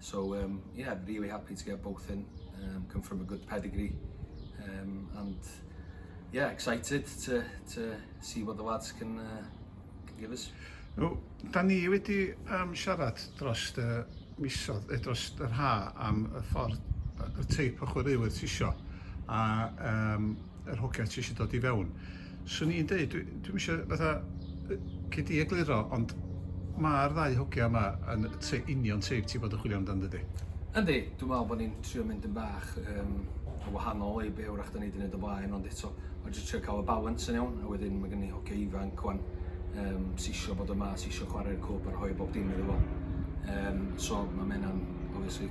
So um, yeah, I'm really happy to get both in. Um, come from a good pedigree. Um, and yeah, excited to, to see what the lads can, uh, can give us. No, da ni wedi um, siarad dros y misodd, eh, dros yr ha am y ffordd, y teip o chwaraewyr tisio. A um, yr hogia ti eisiau dod i fewn. Swn i'n dweud, dwi, dwi eisiau fatha, cyd i egluro, ond mae'r ddau hogia yma yn te, union teip ti bod yn chwilio amdano dydy. Yndi, dwi'n meddwl bod ni'n trio mynd yn bach um, o wahanol i be wrach da ni wedi gwneud o blaen, ond eto, mae'n jyst trio cael y balans yn iawn, a wedyn mae gen i hogia ifanc o'n um, sisio bod yma, sisio chwarae'r cwb a rhoi bob dim iddo fo. Um, so mae mena'n, obviously,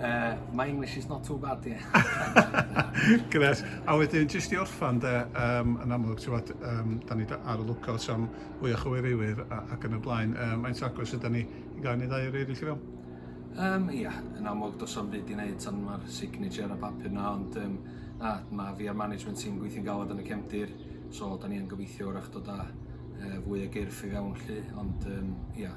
Uh, my English is not too bad, ie. Gret. A wedyn, jyst i orffan, de, um, yn amlwg, ti'n fawr, um, da ni ar y lwcout am fwy o chywiriwyr ac yn y blaen. Um, Mae'n agos ydyn ni i gael ni ddau o'r eraill i fewn? Um, ia, yeah, yn amlwg, dos am fyd i wneud tan mae'r signature ar y papur na, ond um, na, mae fi a'r management team gweithio'n galad yn y cefndir, so da ni yn gobeithio wrach dod â uh, fwy o gyrff i fewn lle, ond um, ia, yeah,